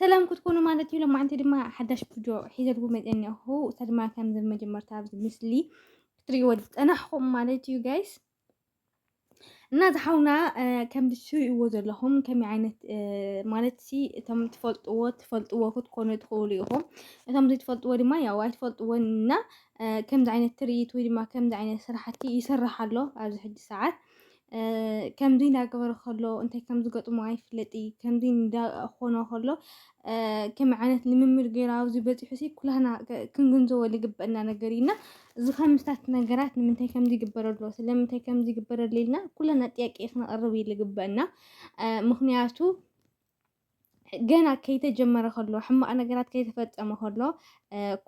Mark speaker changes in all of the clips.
Speaker 1: ሰላም ክትኮኑ ማለት እዩ። ለማዓንቲ ድማ ሓዳሽ ቪድዮ ሒዘልኩም መፅአ እኒኣኹ እሳ ድማ ከምዚ መጀመርታ ኣብዚ ምስሊ ክትሪእዎ ዝፀናሕኹም ማለት እዩ ጋይስ እና ዝሓውና ከምዚ ትርእይዎ ዘለኹም ከመይ ዓይነት ማለት ሲ እቶም ትፈልጥዎ ትፈልጥዎ ክትኮኑ ትኽእሉ ኢኹም እቶም ዘይትፈልጥዎ ድማ ያው ኣይትፈልጥዎን እና ከምዚ ዓይነት ትርኢት ወይ ድማ ከምዚ ዓይነት ስራሕቲ ይስራሕ ኣሎ ኣብዚ ሕጂ ሰዓት ከምዚ እንዳገበረ ከሎ እንታይ ከም ዝገጥሞ ኣይፍለጥ እዩ ከምዚ እንዳኾኖ ከሎ ከመይ ዓይነት ልምምድ ገይሩ ኣብዚ በፂሑ ሲ ኩላህና ክንግንዘቦ ዝግበአና ነገር እዩ እና እዚ ከምስታት ነገራት ንምንታይ ከም ዝግበር ኣሎ ስለምንታይ ከም ዝግበር ኣሎ ኢልና ኩላና ጥያቄ ክንቐርብ እዩ ዝግበአና ምክንያቱ ገና ከይተጀመረ ከሎ ሕማቅ ነገራት ከይተፈጸመ ከሎ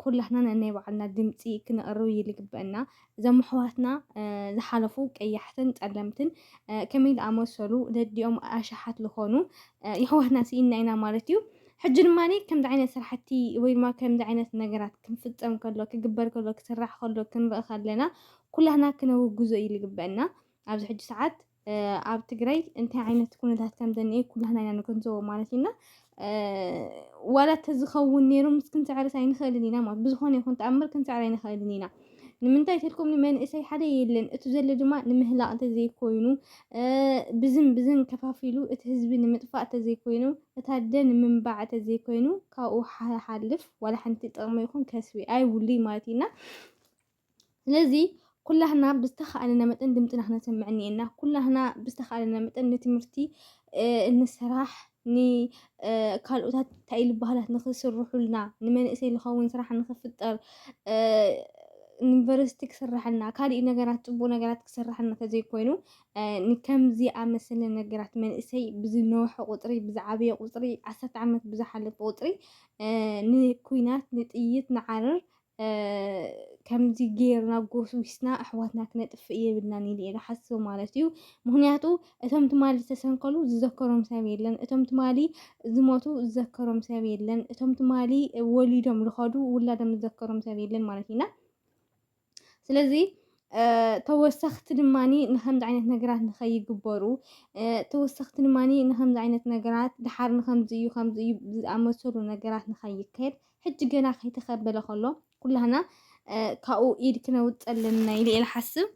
Speaker 1: ኩላትና ነናይ ባዕልና ድምፂ ክንቕርብ እዩ ዝግበአና። እዞም ኣሕዋትና ዝሓለፉ ቀያሕትን ጸለምትን ከመይ ዝኣመሰሉ ደዲኦም ኣሽሓት ዝኾኑ የሕዋትና ስኢንና ኢና ማለት እዩ። ሕጂ ድማ ከምዚ ዓይነት ስራሕቲ ወይ ድማ ከምዚ ዓይነት ነገራት ክንፍፀም ከሎ ክግበር ከሎ ክስራሕ ከሎ ክንርኢ ከለና ኩላትና ክነውግዞ እዩ ዝግበአና ኣብዚ ሕጂ ሰዓት ኣብ ትግራይ እንታይ ዓይነት ኩነታት ከም ዘኒኤ ኩላህና ኢና ንገንዘቦ ማለት እዩና ዋላ ተዝኸውን ነይሩ ምስ ክንስዕርስ ኣይንኽእልን ኢና ማለት ብዝኾነ ይኹን ተኣምር ክንስዕር ኣይንኽእልን ኢና ንምንታይ ተልኩም ንመንእሰይ ሓደ የለን እቲ ዘሎ ድማ ንምህላቕ እንተዘይኮይኑ ብዝን ብዝን ከፋፊሉ እቲ ህዝቢ ንምጥፋእ እንተዘይኮይኑ እቲ ኣደ ንምንባዕ እንተዘይኮይኑ ካብኡ ሓልፍ ዋላ ሓንቲ ጥቕሚ ይኹን ከስቢ ኣይብሉይ ማለት እዩና ስለዚ ኩላህና ብዝተኻእለና መጠን ድምፅና ክነሰምዕ እኒኤና። ኩላህና ብዝተኻእለና መጠን ንትምህርቲ እንስራሕ ንካልኦታት እንታይ ኢሉ ባህላት ንክስርሑልና ንመንእሰይ ዝኸውን ስራሕ ንክፍጠር ዩኒቨርሲቲ ክስራሕልና ካልእ ነገራት ፅቡቅ ነገራት ክስራሕልና ተዘይኮይኑ ከምዚ ኣመሰለ ነገራት መንእሰይ ብዝነውሐ ቁፅሪ ብዝዓበየ ቁፅሪ ዓሰርተ ዓመት ብዝሓለፈ ቁፅሪ ንኩናት ንጥይት ንዓረር ከምዚ ጌርና ጎስጒስና ኣሕዋትና ክነጥፍእ የብልናን ኢለ እየ ዝሓስብ ማለት እዩ ምክንያቱ እቶም ትማሊ ዝተሰንከሉ ዝዘከሮም ሰብ የለን እቶም ትማሊ ዝሞቱ ዝዘከሮም ሰብ የለን እቶም ትማሊ ወሊዶም ዝኸዱ ውላዶም ዝዘከሮም ሰብ የለን ማለት እዩና ስለዚ ተወሰኽቲ ድማኒ ንከምዚ ዓይነት ነገራት ንኸይግበሩ ተወሰኽቲ ድማኒ ንከምዚ ዓይነት ነገራት ድሓር ንከምዚ እዩ ከምዚ እዩ ዝኣመሰሉ ነገራት ንኸይከድ ሕጂ ገና ከይተከበለ ከሎ ኩላህና ካብኡ ኢድ ክነውጽእ ኣለና ኢለ ኢየ ዝሓስብ።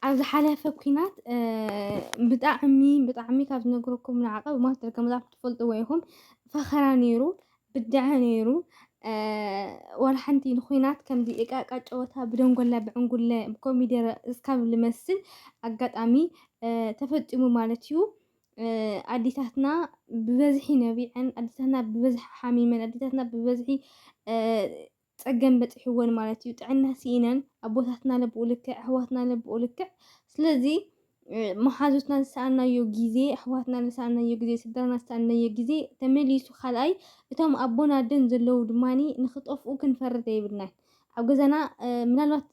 Speaker 1: ኣብ ዝሓለፈ ኩናት ብጣዕሚ ብጣዕሚ ካብ ዝነግረኩም ንዓቐ ብማስተር ገመዛት ትፈልጥዎ ኢኹም ፈኸራ ነይሩ ብድዐ ነይሩ ዋላ ሓንቲ ንኩናት ከምዚ እቃቃ ጨወታ ብደንጎላ ብዕንጉለ ብኮሚደረ እስካብ ልመስል ኣጋጣሚ ተፈጢሙ ማለት እዩ። ኣዴታትና ብበዝሒ ነቢዐን፣ ኣዴታትና ብበዝሒ ሓሚመን፣ ኣዴታትና ብበዝሒ ፀገም በፂሕወን ማለት እዩ። ጥዕና ስኢነን፣ ኣቦታትና ለብኡ ልክዕ፣ ኣሕዋትና ለብኡ ልክዕ። ስለዚ መሓዙትና ዝሰኣናዮ ግዜ፣ ኣሕዋትና ዝሰኣናዮ ግዜ፣ ስድራና ዝሰኣናዮ ግዜ ተመሊሱ ካልኣይ እቶም ኣቦን ኣደን ዘለዉ ድማ ንክጠፍኡ ክንፈርድ የብልናን። ኣብ ገዛና ምናልባት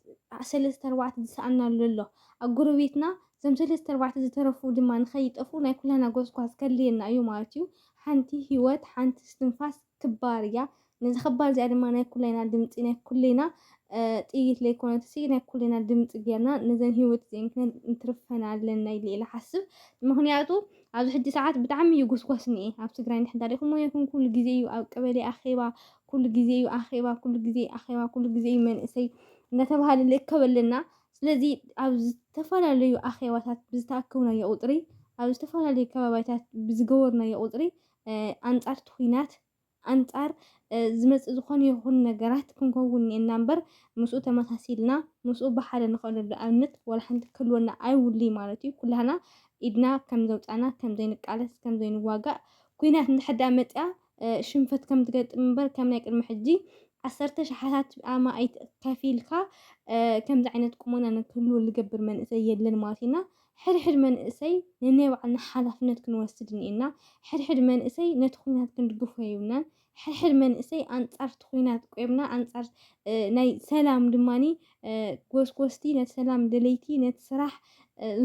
Speaker 1: ሰለስተ ኣርባዕተ ዝሰኣናሉ ኣሎ ኣብ ጎረቤትና እዞም ሰለስተ ኣርባዕተ ዝተረፉ ድማ ንኸይጠፍኡ ናይ ኩላና ጎስጓስ ከድልየና እዩ ማለት እዩ። ሓንቲ ህይወት ሓንቲ እስትንፋስ ክባር እያ። ነዛ ክባር እዚኣ ድማ ናይ ኩላይና ድምፂ ናይ ኩሌና ጥይት ለይኮነትሲ ናይ ኩሌና ድምፂ ጌርና ነዘን ህይወት እዚአን ክንትርፈን ኣለና ኢለ ኢለ ሓስብ ምክንያቱ ኣብዚ ሕጂ ሰዓት ብጣዕሚ እዩ ጎስጓስ እኒኤ ኣብ ትግራይ ንድሕን ታሪኹም ይኹን ኩሉ ግዜ እዩ ኣብ ቀበሌ ኣኼባ ኩሉ ግዜ እዩ ኣኼባ ኩሉ ግዜ ኣኼባ ኩሉ ግዜ እዩ መንእሰይ እናተባሃለ ንእከብ ኣለና ስለዚ ኣብ ዝተፈላለዩ ኣኼባታት ብዝተኣከብናዮ ቁጽሪ፣ ኣብ ዝተፈላለዩ ከባባይታት ብዝገበርናዮ ቁጽሪ ኣንጻር እቲ ኩናት፣ ኣንጻር ዝመጽእ ዝኾነ ይኹን ነገራት ክንከውን እኒኤና እምበር ምስኡ ተመሳሲልና ምስኡ ብሓደ ንኸደሉ ኣብነት ዋላ ሓንቲ ክህልወና ኣይውልይ ማለት እዩ። ኩላህና ኢድና ከም ዘውጻና ከም ዘይንቃለስ ከም ዘይንዋጋእ ኩናት እንድሕር ደኣ መጽኣ ሽንፈት ከም ትገጥም እምበር ከም ናይ ቅድሚ ሕጂ ዓሰርተ ሽሓታት ኣማኢት ከፊልካ ከምዚ ዓይነት ቁመና ንክህልዎ ዝገብር መንእሰይ የለን ማለት እዩ እና ሕድሕድ መንእሰይ ንናይ ባዕልና ሓላፍነት ክንወስድ እኒኤና። ሕድሕድ መንእሰይ ነቲ ኩናት ክንድግፎ የብልናን። ሕድሕድ መንእሰይ ኣንጻር እቲ ኩናት ቆይምና ኣንጻር ናይ ሰላም ድማኒ ጎስጎስቲ ነቲ ሰላም ደለይቲ ነቲ ስራሕ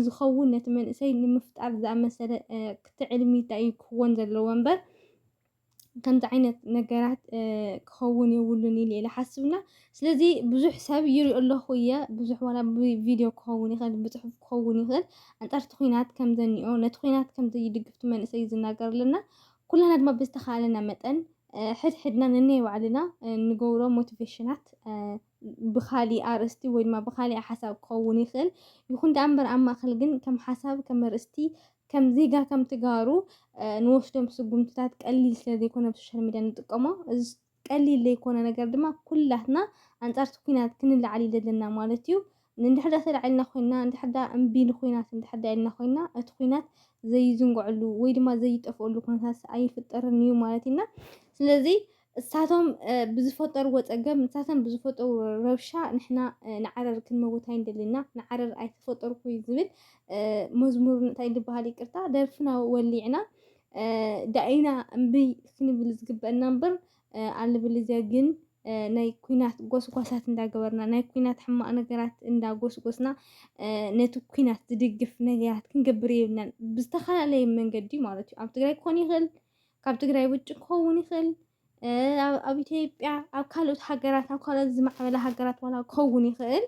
Speaker 1: ዝኸውን ነቲ መንእሰይ ንምፍጣር ዝኣመሰለ ክትዕልሚ ታይ እዩ ክኽወን ዘለዎ እምበር ከምዚ ዓይነት ነገራት ክኸውን የብሉን ኢለ ኢለ ሓስብና ስለዚ ብዙሕ ሰብ ይሪኦ ኣለኹ እየ ብዙሕ ዋላ ብቪድዮ ክኸውን ይኽእል ብፅሑፍ ክኸውን ይኽእል ኣንፃርቲ ኩናት ከም ዘኒኦ ነቲ ኩናት ከም ዘይድግፍቲ መንእሰይ ዝናገር ኣለና ኩላና ድማ ብዝተኻለና መጠን ሕድሕድና ነናይ ባዕልና ንገብሮ ሞቲቬሽናት ብኻሊእ ኣርእስቲ ወይ ድማ ብኻሊኣ ሓሳብ ክኸውን ይኽእል። ይኹን ደኣ እምበር ኣብ ማእከል ግን ከም ሓሳብ ከም ኣርእስቲ ከም ዜጋ ከም ትጋሩ ንወስዶም ስጉምትታት ቀሊል ስለ ዘይኮነ ኣብ ሶሻል ሚድያ ንጥቀሞ እዚ ቀሊል ዘይኮነ ነገር ድማ ኩላትና ኣንጻርቲ ኩናት ክንለዓል እዩ ዘለና ማለት እዩ። እንድሕር ደኣ ተላዒልና ኮይና እንድሕር ደኣ እምቢ ንኩናት እንድሕር ደኣ ኢልና ኮይና እቲ ኩናት ዘይዝንግዐሉ ወይ ድማ ዘይጠፍኣሉ ኩነታት ኣይፍጠርን እዩ ማለት ኢና ስለዚ እሳቶም ብዝፈጠርዎ ጸገም ንሳቶም ብዝፈጠርዎ ረብሻ ንሕና ንዓረር ክንመውት ኣይንደልና ንዓረር ኣይተፈጠርኩይ ዝብል መዝሙር እንታይ ዝበሃል ይቅርታ ደርፍና ወሊዕና ዳኢና እምብይ ክንብል ዝግበአና እምበር ኣልብልዚያ ግን ናይ ኩናት ጎስጓሳት እንዳገበርና ናይ ኩናት ሕማቕ ነገራት እንዳጎስጎስና ነቲ ኩናት ዝድግፍ ነገራት ክንገብር የብልናን ብዝተፈላለየ መንገዲ ማለት እዩ ኣብ ትግራይ ክኾን ይኽእል ካብ ትግራይ ውጭ ክኸውን ይኽእል ኣብ ኢትዮጵያ ኣብ ካልኦት ሃገራት ኣብ ካልኦት ዝማዕበለ ሃገራት ዋላ ክኸውን ይኽእል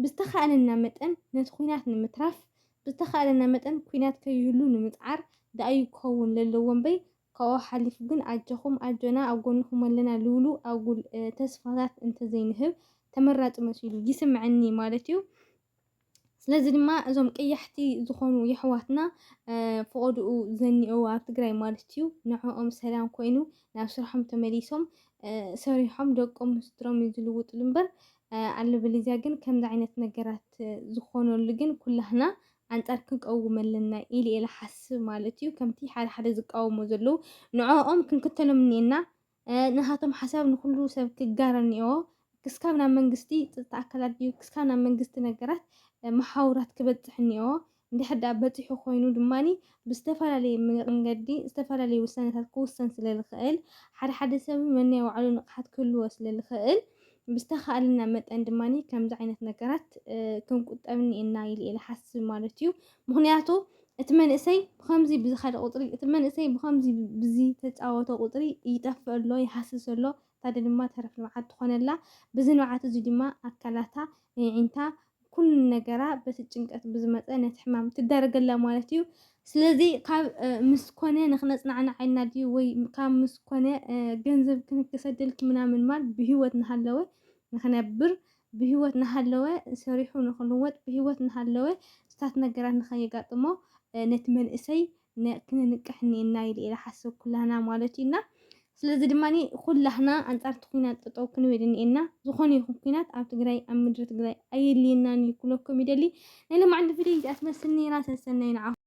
Speaker 1: ብዝተኻእለና መጠን ነቲ ኩናት ንምትራፍ ብዝተኻእለና መጠን ኩናት ከይህሉ ንምፅዓር ዳእዩ ክኸውን ለለዎ እምበይ ካብኡ ሓሊፉ ግን ኣጀኹም ኣጆና ኣብ ጎንኹም ኣለና ልብሉ ኣጉል ተስፋታት እንተዘይንህብ ተመራፂ መሲሉ ይስምዐኒ ማለት እዩ። ስለዚ ድማ እዞም ቀያሕቲ ዝኾኑ የሕዋትና ፍቆድኡ ዘኒኦ ኣብ ትግራይ ማለት እዩ ንዕኦም ሰላም ኮይኑ ናብ ስርሖም ተመሊሶም ሰሪሖም ደቆም ምስድሮም እዩ ዝልውጥሉ እምበር ኣለበለዚያ ግን ከምዚ ዓይነት ነገራት ዝኾነሉ ግን ኩላህና ኣንጻር ክንቀውም ኣለና ኢል ኢለ ሓስብ ማለት እዩ ከምቲ ሓደ ሓደ ዝቃወሙ ዘለዉ ንዕኦም ክንክተሎም እኒኤና ናታቶም ሓሳብ ንኹሉ ሰብ ክጋረ እኒኦዎ። ክስካብ ናብ መንግስቲ ፅጥታ ኣካላት ድዩ ክስካብ ናብ መንግስቲ ነገራት መሓውራት ክበፅሕ እኒኦዎ። እንድሕር ድኣ በፂሑ ኮይኑ ድማ ብዝተፈላለየ መንገዲ ዝተፈላለዩ ውሳነታት ክውሰን ስለዝኽእል ሓደ ሓደ ሰብ ነናይ ባዕሉ ንቕሓት ክህልዎ ስለዝኽእል ብዝተኻእለና መጠን ድማ ከምዚ ዓይነት ነገራት ክንቁጠብ እኒኤና ኢለ እየ ዝሓስብ ማለት እዩ። ምኽንያቱ እቲ መንእሰይ ብኸምዚ ብዝኸደ ቁፅሪ እቲ መንእሰይ ብኸምዚ ብዝተፃወተ ቁፅሪ ይጠፍእ ኣሎ፣ ይሃስስ ኣሎ፣ እታ ኣደ ድማ ተረፍ ንብዓት ትኾነላ። ብዚ ንብዓት እዚ ድማ ኣካላታ፣ የዒንታ፣ ኩሉ ነገራ በቲ ጭንቀት ብዝመፀ ነቲ ሕማም ትዳረገላ ማለት እዩ። ስለዚ ካብ ምስ ኮነ ንክነፅናዕናዕ ኢልና ድዩ ወይ ካብ ምስ ኮነ ገንዘብ ክንክሰደልኪ ምናምን ማል ብህይወት ንሃለወ ንክነብር ብህይወት እናሃለወ ሰሪሑ ንኽልወጥ፣ ብህይወት እናሃለወ ሱታት ነገራት ንኸየጋጥሞ ነቲ መንእሰይ ክንንቅሕ እኒኤና ኢለ ኢለ እሓስብ፣ ኩላህና ማለት እዩ እና ስለዚ ድማ ኩላህና ኣንፃር እቲ ኹናት ጠጠው ክንብል እኒኤና፣ ዝኾነ ይኹን ኹናት ኣብ ትግራይ ኣብ ምድሪ ትግራይ ኣየድልየናን እዩ ክብለኩም ይደሊ፣ ናይ ሎማዓንቲ ቪድዮይ እዚኣ ትመስል ነይራ፣ ሰሰናዩ ንዓኹም።